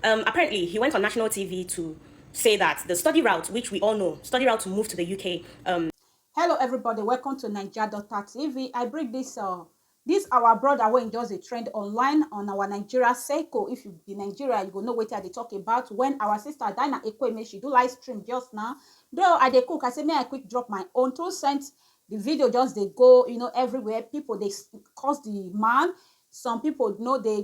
Um, apparently, he went on national TV to say that the study route, which we all know, study route to move to the UK. Um... Hello, everybody. Welcome to Niger Doctor TV. I bring this uh, this our brother wey just dey trend online on our nigeria circle if you be nigeria you go know wetin i dey talk about when our sister dina ekweme she do live stream just now though i dey cook i say may i quick drop my own two cents the video just dey go you know everywhere people dey curse the man some people no dey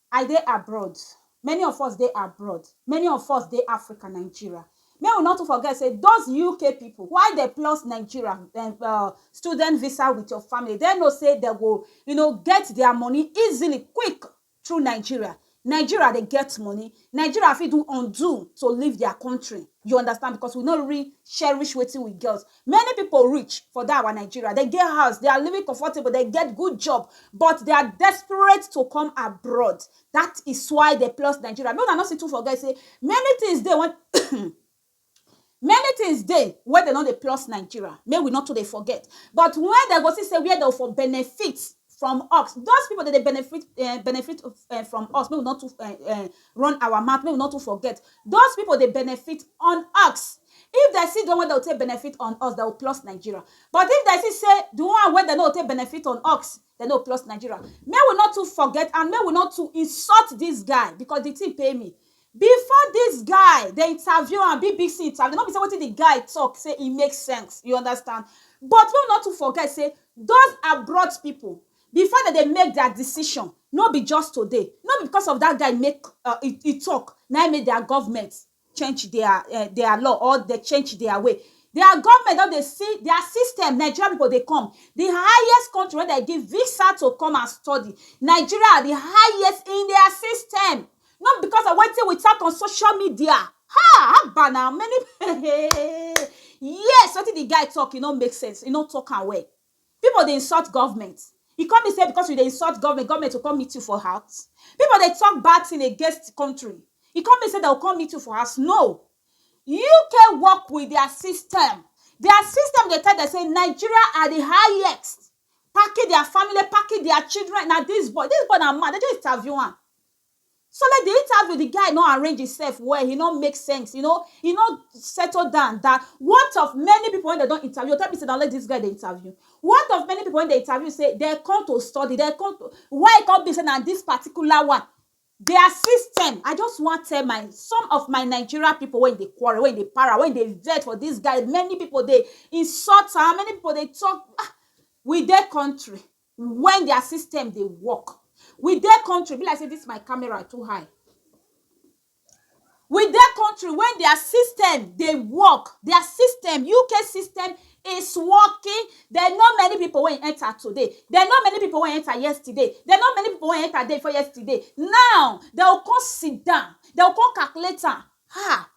I dey abroad, many of us dey abroad, many of us dey Africa, Nigeria. Make we no too forget say those UK people, why dem plus Nigeria um student visa with your family, dem know say dem go you know get their money easily, quick through Nigeria. Nigeria dey get money, Nigeria fit do undo to leave their country, you understand because we no really cherish wetin we get. Many people rich for that our Nigeria, dem get house, they are living comfortable, dem get good job but they are desperate to come abroad that is why dem plus Nigeria. Make una no still too forget say many things dey wey many things dey wey dem no dey plus Nigeria, make we no too dey forget but when dem go see say where dem for benefit from us, those people dem dey benefit um benefit from us, make we no too um Run our mouth make we no too forget those people dey benefit on ux if dem see the one wey dem go take benefit on us dem go plus Nigeria but if dem see say the one wey dem no go take benefit on ux dem no go plus Nigeria make we no too forget and make we no too insult this guy because the thing pain me before this guy dem interview am bbc interview no be say wetin the guy talk say e make sense you understand but make we no too forget say those abroad people Before dem dey make their decision, no be just today, no be because of that guy make e talk na im make their government change their law or dem change their way. Their government don dey see their system, Nigerian people dey come, the highest country wey dem give visa to come and study, Nigeria the highest in their system. No be because of wetin we talk on social media, ha! Haba na, many people, yes! Wetin the guy talk, e no make sense, e no talk am well. Pipo dey insult government, e come mean say because you dey insult government, government go come meet you for house? Pipo dey talk bad tin against country, e come mean say dem go come meet you for house? No! UK work with dia system, dia system dey tell dem say Nigeria are di highest, packing dia family, packing dia children, na dis boy, dis boy na mad, dem just interview am. So like the interview the guy no arrange himself well he no make sense you know he no settle down that what of many people when they don interview you tell me say na only this guy they interview what of many people when they interview say they come to study they come to why e come be say na this particular one their system I just wan tell my some of my Nigeria people wey dey quarrel wey dey para wey dey vex for this guy many people dey insult am many people dey talk ah we dey country when their system dey work we dey country e be like say this my camera too high we dey country wey their system dey work their system UK system is working they know many people wey enter today they know many people wey enter yesterday they know many people wey enter day before yesterday now they go come sit down they go come calculate am ha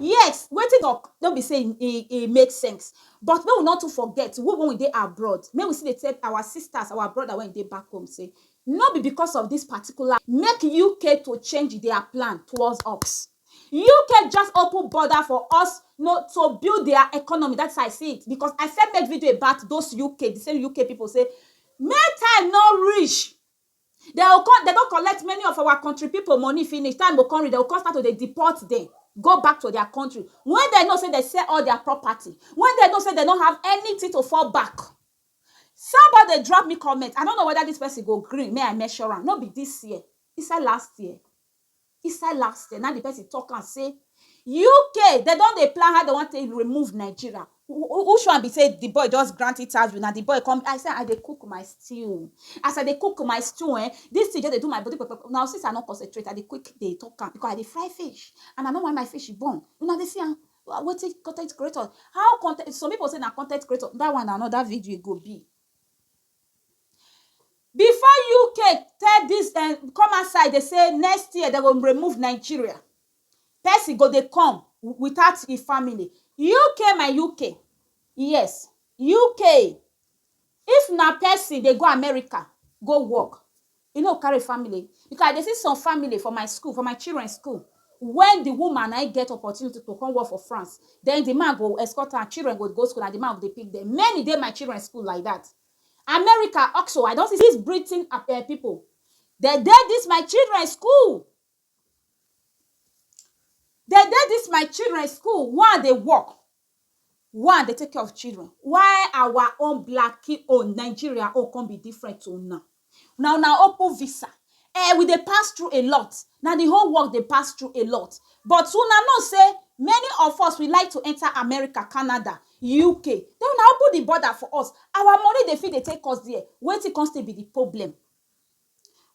yes wetin dey no be sey e e make sense but make we no too forget we wey we dey abroad make we still dey tell our sisters our brothers wey dey back home sey no be because of this particular make UK to change their plan towards us UK just open border for us no to build their economy that's how I see it because I first make video about those UK the same UK people sey make time no reach Dem go come, dem don collect many of our country people money finish, time go come reach, dem go come start to dey deport dem go back to their country when dem know say dem sell all their property, when dem know say dem no have anything to fall back. Somebody dey drop me comment, I no know whether this person go gree make I mention am, no be this year, inside last year. Inside last year, na im di person talk am say UK dem don dey plan how dem wan take remove Nigeria. Which one be say di boy just grant interview na di boy come I say I dey cook my stew as I dey cook my stew um dis thing just dey do my body pepepe una go see say I no concentrate I dey quick dey talk am because I dey fry fish and I no want my fish burn una dey see am wetin con ten t creator how con ten t some people say na con ten t creator dat one na another video e go be. Before UK tell dis dem come outside dey say next year dem go remove Nigeria, person go dey come without e family. UK my UK, yes UK if na person dey go America go work, E no carry family because I dey see some family for my school, for my children school when the woman na im get opportunity to come work for France, then the man go escort her, children go go school na the man go dey pick them. Many dey my children school like that. America also, I don see dis Britain people, dem dey dis my children school. dey dey dis my children school one dey work one dey take care of children why our own blackie own Nigeria own come be different to una na una open visa um we dey pass through a lot na the whole world dey pass through a lot but una know sey many of us we like to enter America, Canada UK then una open the border for us our money dey fit dey take us there wetin come still be the problem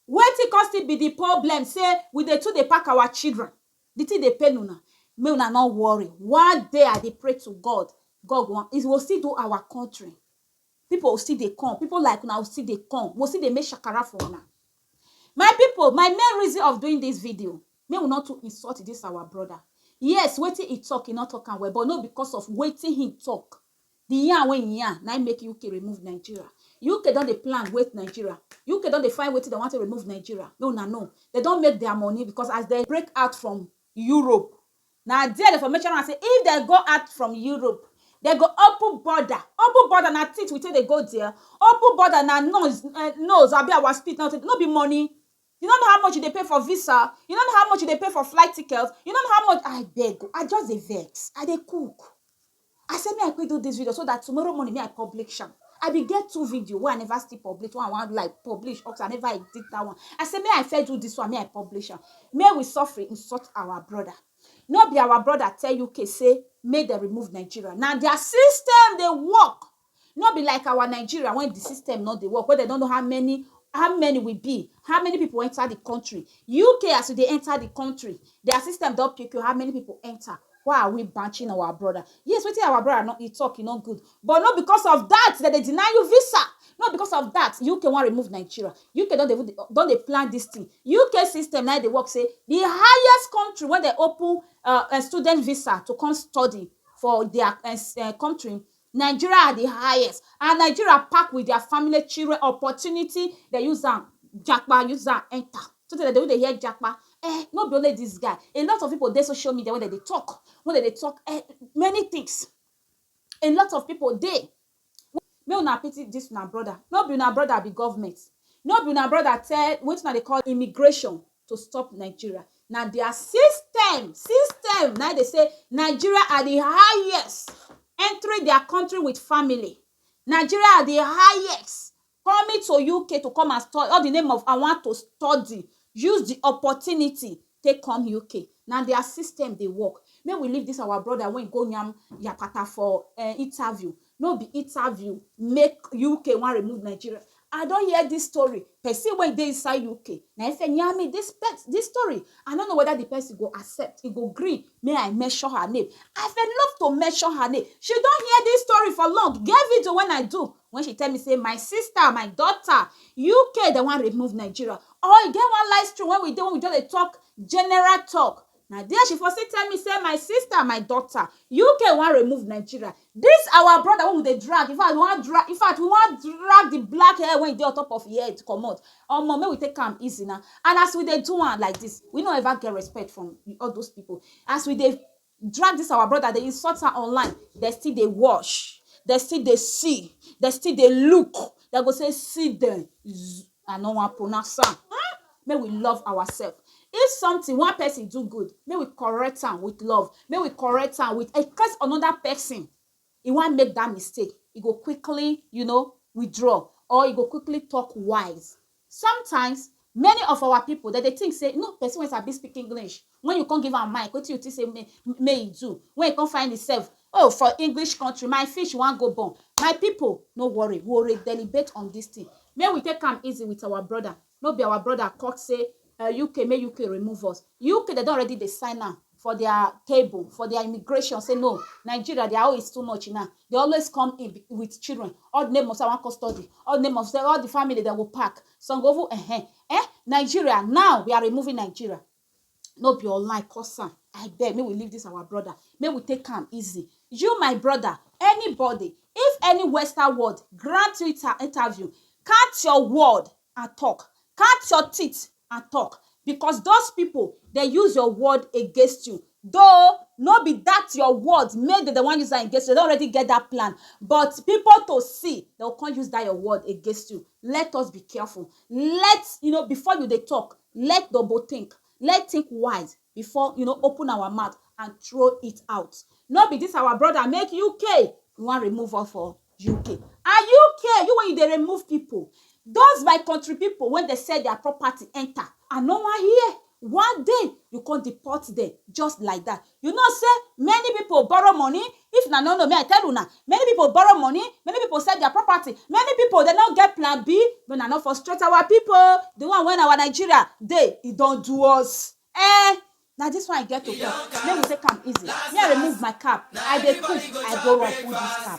Wetin come still be di problem say we dey too dey pack our children, di thing dey pain una, make una no worry, one day I dey pray to God, God go, he go still do our country, people go still dey come, people like una go still dey come, we go still dey make shakara for una. My people, my main reason of doing dis video, make we no too insult dis our brother, yes, wetin he talk, he no talk am well but no be because of wetin he talk The yarn wey im yarn na im make UK remove Nigeria. UK don dey plan wait Nigeria. UK don dey find wetin dem wan take remove Nigeria. Make una know, dem don make their money because as dem break out from Europe, na there dem for mention am say if dem go out from Europe, dem go open border. Open border na teeth we take dey go there. Open border na noise um nose abi our spit na no be money. You no know how much you dey pay for visa? You no know how much you dey pay for flight ticket? You no know how much Abeg o, I just dey vex. I dey cook. I say me I quick do this video so that tomorrow morning me I publish am. I be get two video wey I never still publish, one I wan like publish up I never edit that one. I say me I first do this one, me I publish am. May we suffer insult our brother. No be our brother tell UK say make dem remove Nigeria. Na their system dey work. No be like our Nigeria wen di system no dey work, wen dem no know how many how many we be, how many pipu enter di country. UK as you dey enter di country, dia system don pipu how many pipu enter. Why are we banching our brother? Yes, wetin our brother no e talk e no good, but no because of dat dem dey deny you visa. No because of dat UK wan remove Nigeria. UK don dey even dey don dey plan dis tin. UK system na e dey work sey di highest country wen dem open um student visa to come study for dia um country, Nigeria are the highest and Nigeria pack with their family children opportunity dem use am japa use am enter so tey dem dey even dey hear japa eh no be only this guy a lot of people dey social media wey dem dey talk wey dem dey talk eh many things a lot of people dey make una pity this una brother no be una brother be government no be una brother tell wetin una dey call immigration to stop Nigeria. Na their system, system na dey say Nigeria are the highest entering their country with family. Nigeria are the highest coming to UK to come and study all the name of I want to study use the opportunity take come UK. Na their system dey work. Make we leave this our brother wey go yarn yakata for um interview. No be interview make UK wan remove Nigeria. I don hear this story, person wey dey inside UK na him first yarn me this this story. I no know whether the person go accept, e go gree make I mention her name. I for love to mention her name. She don hear this story for long. E get video wey I do wey she tell me say my sister, my daughter, UK dem wan remove Nigeria. Or e get one live stream wey we dey wey we just dey talk general talk. Na there she for still tell me say my sister, my daughter, UK wan remove Nigeria. This our brother wey we dey drag, in fact we wan drag, in fact we wan drag the black hair wey dey on top of him head comot. Omo make we take am easy na. And as we dey do am like this, we no ever get respect from all those people. As we dey drag this our brother, dey insult am online, dem still dey watch, dem still dey see, dem still dey look, dem go say see dem. I no wan pronounce am. Hmm? Make we love ourselves. If something one person do good, make we correct am with love. Make we correct am with in case another person e wan make that mistake, e go quickly, you know, withdraw or e go quickly talk wise. Sometimes many of our people that they think say no person wey sabi speak English Wen you kon give am mic, wetin you tink sey mey e do wen e kon find imsef oh for English kontri? My fish wan go burn. My pipo, no worry, we will deliberate on dis tin. Make we take am easy with our broda. No be our broda cut sey UK, make UK remove us. UK, dem don already dey sign am for dia table, for dia immigration sey no, Nigeria, dia own is too much na. Dey always come in with children. All di neibours wey wan kon study, all di neibours, all di family, dem go pack. Some go even eh-eh, eh, Nigeria, now we are removing Nigeria. no be online cause am abeg make we leave this our brother make we take am easy you my brother anybody if any western word grant you inter interview count your word and talk count your teeth and talk because those people dey use your word against you though no be that your word make dem dey wan use am against you dem don already get that plan but people to see dem go come use that your word against you let us be careful let you know before you dey talk Let double think, let think wise before you know open our mouth and throw it out. No be this our brother make UK you wan remove us for UK. And UK, you when you dey remove people, those my country people when they sell their property enter, I no wan hear. One day you come deport them just like that. You know say many people borrow money, if una no know me I tell una, many people borrow money, many people sell their property, many people dem no get plan B, make una no frustrate our people oo, the one wey our Nigeria dey e don do us ehn, na this one I get to talk, make we take am easy, me I remove my cap, I dey cook I go run full this cap.